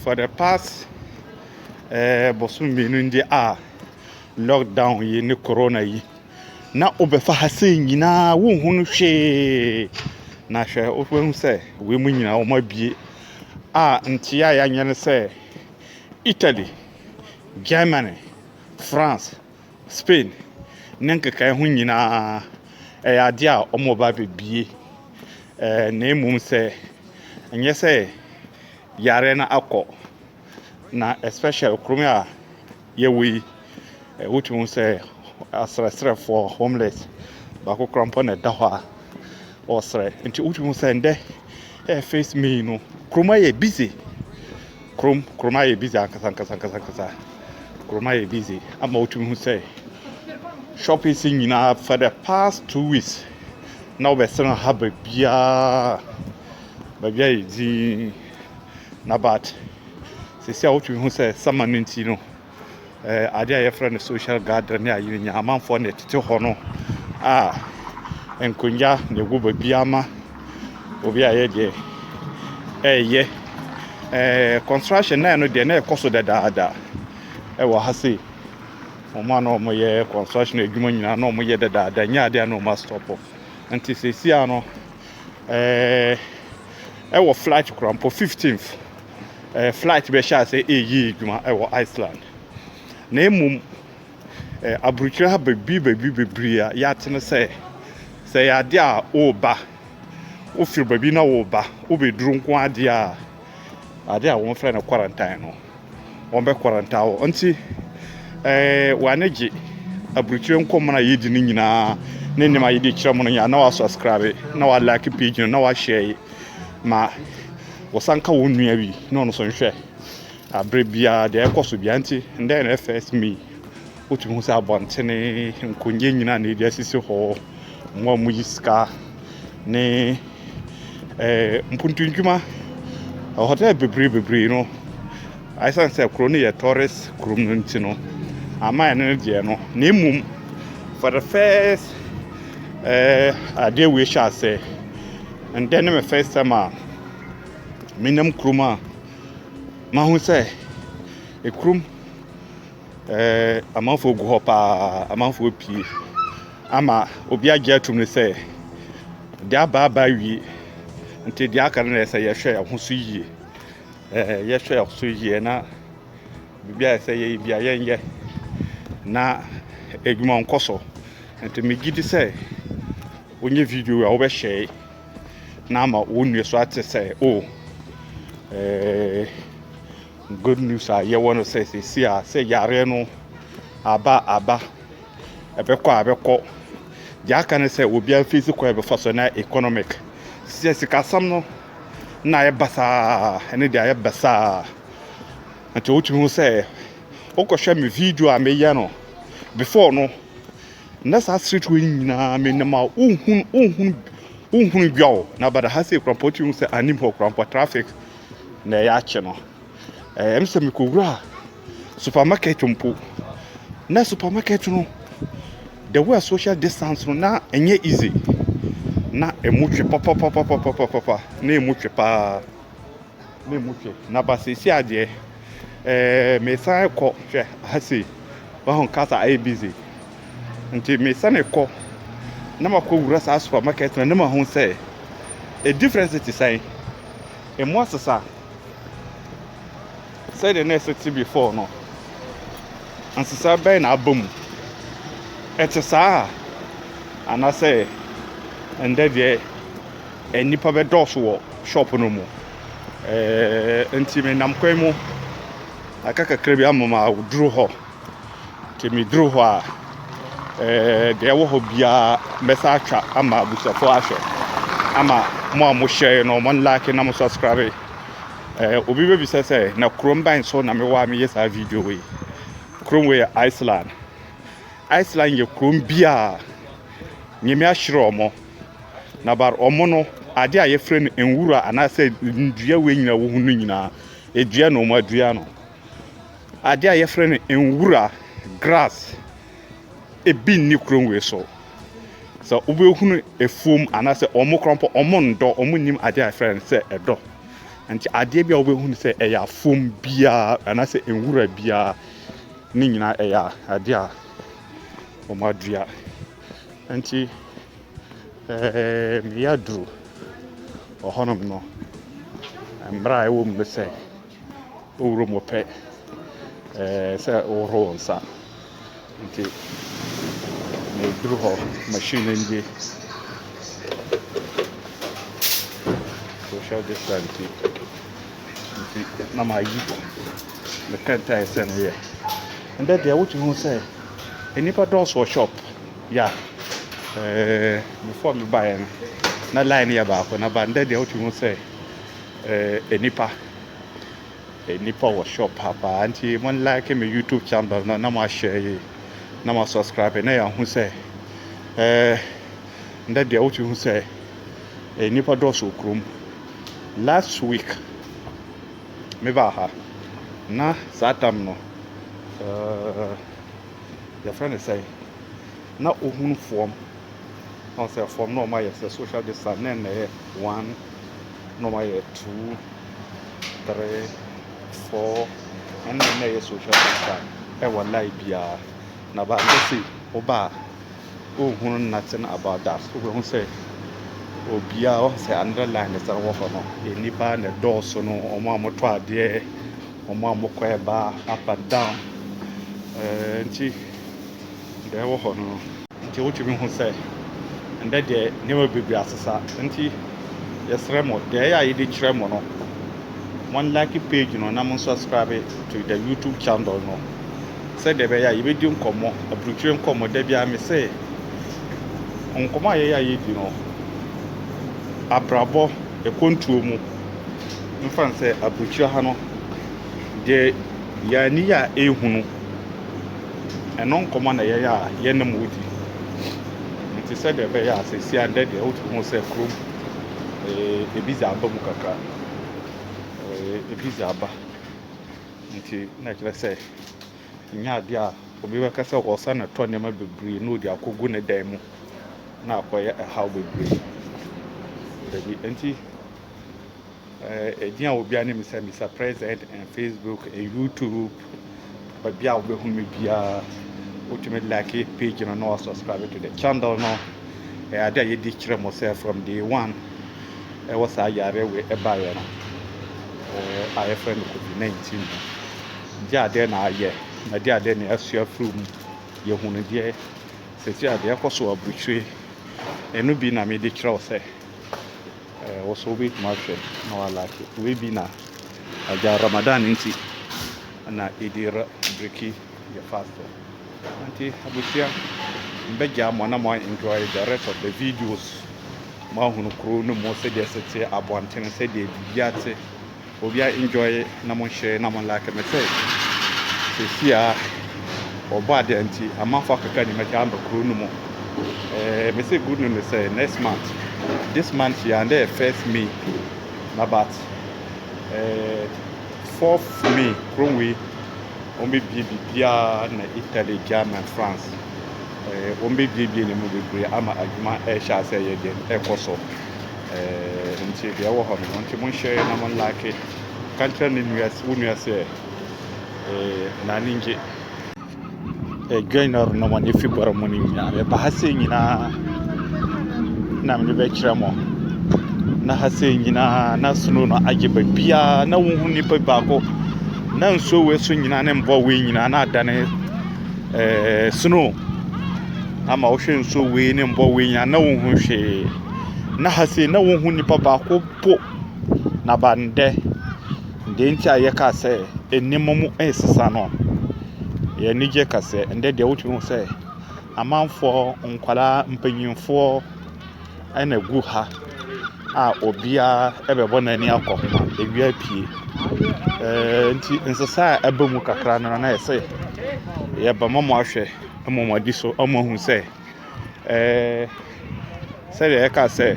for the past eh, bosom mmienu ndi a lockdown yi ne corona yi na wobɛfa ha sɛ nyinaa wonhu no hwee na hwɛ wobɛhu sɛ wei mu nyinaa wɔn abie a nkyea a yɛanyɛ no sɛ italy germany France, Spain ne nkekaeɛ ho nyinaa, ɛyɛ adeɛ a wɔreba abɛbue. Ɛɛ na mmom sɛ, ɛnyɛ sɛ yareɛ no akɔ. Na especially kurom a yɛwɔ yi, wotumi hu sɛ asrɛsrɛfoɔ, homeless, baako koraa mpo na ɛda hɔ a. ɔsrɛ nti wotumi hu sɛ ndɛ ɛyɛ first may no kurom ayɛ busy kurom kurom ayɛ busy ankasa ankasa ankasa ankasa kurom ayɛ busy ama wotumi hu sɛ shoppings nyinaa for the past two weeks na wɔbɛsɛn ha baabiara baabi ayɛ dzinn na but sisi a wotumi hu sɛ summer no nti no. eh, ade a yɛfrɛ no social gathering ne ayi no nyinaa amanfoɔ na ɛtete hɔ no a nkonnwa na ɛwɔ baabi ama obi a yɛ deɛ ɛyɛ eh, construction na ɛno deɛ na ɛkɔ so dadaada ɛwɔ ha sei wɔn a na wɔyɛ construction adwuma nyinaa na wɔyɛ dadaada nyɛ adeɛ a na wɔn asitɔpɔ nti seesia no ɛɛ eh, ɛwɔ flight korampɔ 15th. eh, flight bɛhyɛ ase ɛreyɛ adwuma wɔ Iceland. Na mmom, eh, aburukyerɛ ha bebree bebree bebree a yɛate no sɛ sɛ yɛ adeɛ a woba wofiri baabi na woba wobɛduru nko adeɛ a adeɛ a wɔfrɛ no quarantine no wɔbɛ quarantine wɔ nti eh, wɔane gye aburukyerɛ nkɔmmɔ no a yɛdi no nyinaa ne nneɛma yɛde kyerɛ mu no nyinaa na wasubscribe na walike page no na wahyɛ ma Wɔsan ka wɔn nua bi na ɔno nso nhwɛ abere biara deɛ ɛkɔ so biara nti ndɛ na first May wotumi hu sɛ abɔntene nkonwa nyinaa na ɛde asisi hɔ wɔn a wɔyi sika ne ɛɛ mpuntu ndwuma hotel bebree bebree no asan sɛ kuro no yɛ tourist kuro no nti no ama ɛno no deɛ no na mmom for the first ɛɛ adeɛ wei hyɛ asɛ. Ndɛ ne me first time a menam kurom a mahu sɛ ekurom amanfoɔ gu hɔ paa amanfoɔ pii ama obi agye atum ne sɛ deɛ aba aba awie nti deɛ aka no na ɛsɛ yɛhwɛ ɛho so yie yɛhwɛ ɛho so yie na biribi a ɛsɛ yɛyɛ bi a yɛnyɛ na adwuma nkɔ so nti megye di sɛ Wonyɛ video yi a wobɛ hyɛe na ama wo nnua so ate sɛ o oh, eh, good news a yɛwɔ no sɛ sɛsi a sɛ yareɛ no aba aba ɛbɛkɔ a ɛbɛkɔ deɛ aka no sɛ obiara fi si kɔ ɛbɛfa so na economic sɛ sikasɛm no na ayɛ basaa ɛne deɛ ayɛ basaa nti wotumi ho sɛ wokɔhwɛ me video a meyɛ no before no na saa aseretewa yi nyinaa me nam a wohunu wohunu wohunu dwa o na bada ha sɛ ekurampɔ ti sɛ anim hɔ kurampɔ traffic na ɛyɛ akye no ɛɛ ɛm sɛ mekɔwura supermarket mpo na supermarket no the way social distance no na ɛnyɛ easy na ɛmu twe papapapapapapa na ɛmu twe paa. memu hwɛ na ba seesia deɛ ɛɛ mesan kɔ hwɛ ha sei wahu kasa ayɛ busy nti mesan kɔ na makɔ wura saa supermarket na ne ma ho sɛ a difference te sɛn emu asesa sɛdeɛ na ɛsɛ te before no nsesa bɛn na aba mu ɛte saa anaasɛ ɛndɛ deɛ Nnipa bɛdɔɔso wɔ shop no mu. Ɛɛ, nti menam kwan mu. Aka kakra bi ama ma woduru hɔ. Nti meduru hɔ a, ɛɛ, deɛ ɛwɔ hɔ biara mɛsa atwa ama abusuafoɔ ahwɛ. Ama mo a mohyɛe no, mo like na mo subscribe. Ɛɛ, obi bɛbisa sɛ, na kurom ban so na mewɔ a meyɛ saa video yi. Kurom wei yɛ Iceland. Iceland yɛ kurom bi a Nyame ahyira wɔn. Na bar ɔmo no, ade a yɛfrɛ no nwura anaasɛ nnua wei nyinaa wohu no nyinaa, edua na ɔmo adua no. Ade a yɛfrɛ no nwura, grass, ebi nni kurom wei so. Sɛ wobɛhunu afuom anaasɛ ɔmo koraa mpo ɔmo ndɔ, ɔmo nnim ade a yɛfrɛ no sɛ ɛdɔ. Nti adeɛ bi a wobɛhunu sɛ ɛyɛ afuom biara anaasɛ nwura biara, ne nyinaa ɛyɛ adeɛ a ɔmo adua. Ntsi meyɛ dur wɔ hɔnom no, mbra a ɔwɔ mu nye sɛ, owura mu pɛ sɛ ehohor wo nsa. Ntsi medur hɔ, machine no nye social distance yi. Ntsi na mayi me kɛntsɛe sɛ meyɛ. Ndɛ deɛ wotu hu sɛ nnipa dɔɔso wɔ shop ya ɛɛ before me ba yɛ no na line yɛ baako na ba ndɛ deɛ wotu hu sɛ ɛɛ nnipa nnipa wɔ shop ha paa nti mo like me youtube channel no na mo ahyɛ yi na mo subscribe na yɛn ho sɛ ɛɛ ndɛ deɛ wotu hu sɛ nnipa dɔɔso kurom. Last week me baa ha na saa tam no ɛɛ yɛfrɛ no sɛn na ohunu fam na ɔsɛ fam na ɔma yɛ sɛ social distance na ɛna yɛ one na ɔma yɛ two three four ɛna ɛna yɛ social distance ɛwɔ line biara na baa bɛ se ɔbaa. Wohunu nothing about that, wobɛhu sɛ obiara wahu sɛ another line ne sɛ wɔ hɔ no, nnipa na ɛdɔɔso no, wɔn a wɔtɔ adeɛ, wɔn a wɔkɔ ɛba up and down, ɛɛ nti deɛ ɛwɔ hɔ no. Nti wotumi hu sɛ ɛndɛ deɛ nneɛma bebree asesa, nti yɛsrɛ mo deɛ ɛyɛ a yɛde kyerɛ mo no, mo like page no na mo subscribe to the YouTube channel no. Sɛdeɛ ɛbɛyɛ a yɛbɛdi nkɔmmɔ, aburukyire nkɔmmɔ. Da biara me se, nkɔmmɔ a yɛyɛ a yɛdi no, abrabɔ, ɛkwantuo mu, mfa no sɛ aburukyire ha no, deɛ yɛn ani yɛ a ɛhunu, ɛno nkɔmmɔ na yɛyɛ a yɛne mo di. Nti sɛdeɛ ɛbɛyɛ a sɛsi a ndɛ deɛ wotumi hu sɛ kurom eh, ebi dze aba mu kakra. Eh, ebi dze aba. Nti na ɛkyerɛ sɛ ɛnyɛ adeɛ a obi bɛka sɛ ɔsan atɔ nneɛma bebree na ɔde akɔgu ne dan mu na akɔyɛ ɛhaw bebree. Dabi, nti ɛdin a obi anim sɛ Mr President and Facebook and YouTube baabi a wobɛhu me biara wotumi like page no na wasubscribe to the channel no ɛyɛ adeɛ a yɛdi kyerɛ mo sɛ from day one ɛwɔ saa yareɛ wei ɛbaeɛ no a yɛfrɛ no COVID-19 no, gye adeɛ na ayɛ na gye adeɛ na asua firi mu. Yɛhunu deɛ sɛsi a deɛ ɛkɔ so wɔ aburukyire ɛno bi na mede kyerɛ wo sɛ ɛɛ wo so wobɛtumi ahwɛ na walake wei bi na agya Ramadan nti na ɛdi biriki yɛ fast. Ntsi abusua, mebɛgyaa mo na mo enjoy the rest of the videos. Mo ahunu kurow no mu sɛdeɛ ɛsi teɛ, abɔnten, sɛdeɛ biribiara te. Obiara enjoy na mo share na mo like. Mese sɛsi a wɔbɔ adeɛ nti amanfoɔ akeka ni mɛgyaa aba kurow no mu. Eh, mese good news ne sɛ next month, this month yi and ɛyɛ first May na but eh, fourth May kurom wei Wɔbɛbue biribiara na Italy, German, France, wɔbɛbuebue ne mu bebree ama adwuma rehyɛ ase yɛ den rekɔ so. Nti deɛ ɛwɔ hɔ no, wɔn nti monhyɛ na mo nlake. Ka nkyerɛ ne nua, wo nua sɛ, na ani ngye. Adwan a ɔrenam wɔn afi bɔrɔ mu no nyinaa meba ha sɛ nyinaa na mede bɛkyerɛ mo na ha sɛ nyinaa na snow no agye baabiara na wohu nipa baako na nsuo wei so nyinaa ne mbɔ wei nyinaa na adane ɛɛ eh, snow ama wohwɛ nsuo wei ne mbɔ wei nyinaa na wohu hwee na ha sɛ na wohu nipa baako po na bandɛ Deɛ nti a yɛka sɛ nneɛma mu resesa no, yɛn ani gye ka sɛ ɛnnɛ deɛ wotumi hu sɛ amanfoɔ, nkwadaa, mpanimfoɔ na ɛgu ha a obiara bɛbɔ n'ani akɔ ho a awia apue. Ɛɛ nti nsesa a aba mu kakra no ara no ayɛ sɛ yɛreba ma moahwɛ ama moadi so ama moahu sɛ ɛɛ sɛdeɛ yɛka sɛ .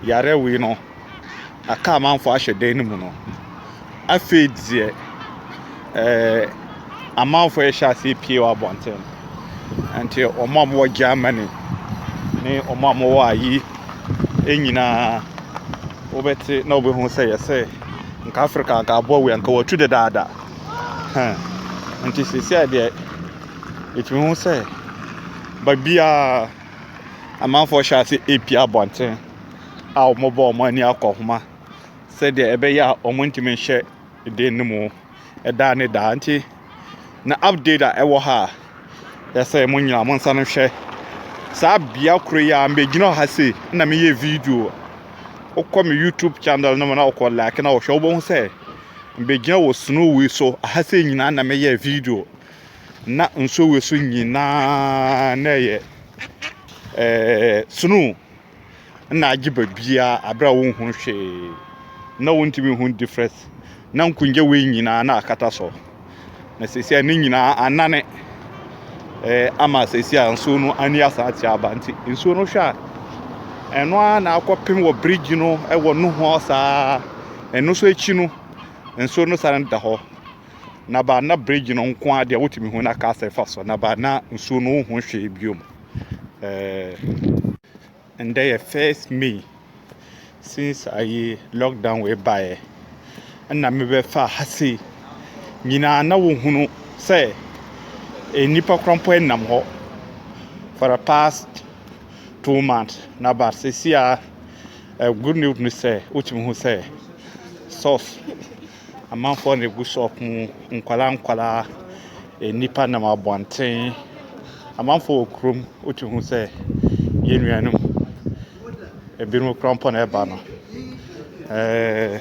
yare wei no aka amanfoɔ ahyɛ dan no mu no, afei deɛ ɛɛ amanfoɔ rehyɛ aseɛ pie wɔ abɔnten. Nti wɔn a wɔwɔ Germany ne wɔn a wɔwɔ ayi nyinaa wobɛte na wobɛhu sɛ yɛsɛ nka Africa nka aboa wei nka wɔatu dedaada. Hɛn. Nti seesei deɛ ɛtumi hu sɛ baabiara Amanfoɔ hyɛɛ ase repie abɔnten a wɔbɔ wɔn ani akɔhoma sɛdeɛ ɛbɛyɛ a wɔntumi nhyɛ dan no mu daa ne daa. Nti na update a ɛwɔ ha a yɛsɛ mo nyinaa mo nsa no hwɛ. Saa bea koro yi a megyina wɔ ha sei na meyɛ video. Wokɔ me YouTube channel no mu na wokɔ like na wɔhwɛ wobɛhu sɛ megyina wɔ snowy so. Aha sei nyinaa na meyɛ video. na nsuo wɔ so nyinaa na ɛyɛ ɛɛɛ snow na agye baabiara berɛ a wonhunu hwee. Na wontumi nhunu difference. Na nkonnwa wei nyinaa na akata so. Na seesei ne nyinaa anane ɛɛ ama seesei a nsuo no ani asan akyerɛ aba nti nsuo no hwɛ a ɛno ara na akɔpem wɔ bridge no wɔ nohoa saa. Ɛno nso akyi no, nsuo no sane da hɔ. na ba na bridge no nko ara deɛ wotumi hu na car sɛ fa so na ba na nsuo no wohu hwee biom ɛndɛ eh, yɛ first may since ayi lockdown wei baeɛ ɛna mebɛfa ha sei nyinaa na wohunu sɛ eh, nnipa kora mpo nam hɔ for the past two months na ba sɛsi a eh, good news no sɛ wotumi hu sɛ source amanfoɔ na ɛgu shop mu, nkwadaa nkwadaa, nnipa nam abɔnten, amanfoɔ wɔ kurom, wotumi hu sɛ yɛn nuanom, binom kura mpɔ na ɛreba no. Ɛɛɛ.